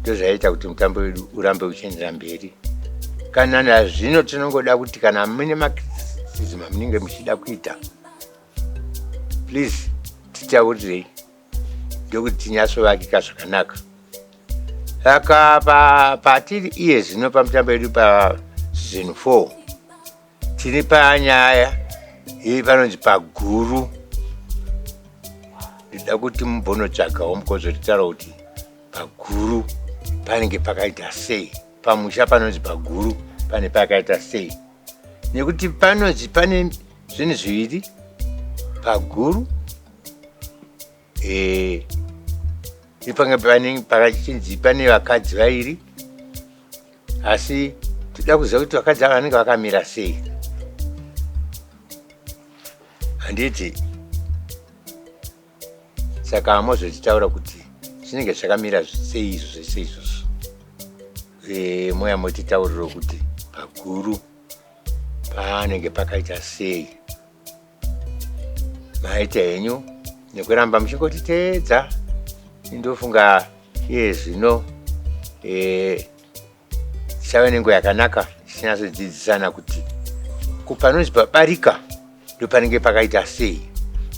ndozvaiita kuti mutambo wedu urambe uchiendera mberi kana nazvino tinongoda kuti kana mune macriticism amunenge muchida kuita please titaurirei ndokuti tinyasovakika zvakanaka saka patiri iye zvino pamutambo yedu pasizon four Tiri panyaya iyi panonzi paguru. Ndida kuti mumbonotsvagawo mukozotitaura kuti paguru panenge pakaita sei, pamusha panonzi paguru pane pakaita sei, nekuti panonzi pane zvinhu zviviri paguru Eh, ipanga pane pakachinzi pane vakadzi vairi asi toda kuziva kuti vakadzi ava vanenge vakamira sei handiti saka hamozotitaura kuti zvinenge zvakamira sei izvo zvese izvozvo Eh, moya motitauriro kuti paguru panenge pakaita sei maita henyu nekuramba muchingotiteedza indofunga iye zvino eh, tichave nenguva yakanaka tichinatsodzidzisana kuti kupanonzi pabarika ndopanenge pakaita sei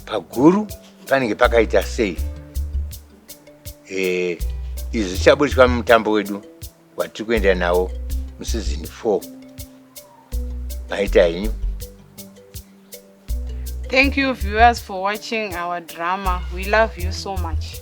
paguru panenge pakaita sei eh, izvi zvichaburitswa mumutambo wedu vatiri kuenda navo musizini four maita henyu Thank you viewers for watching our drama. We love you so much.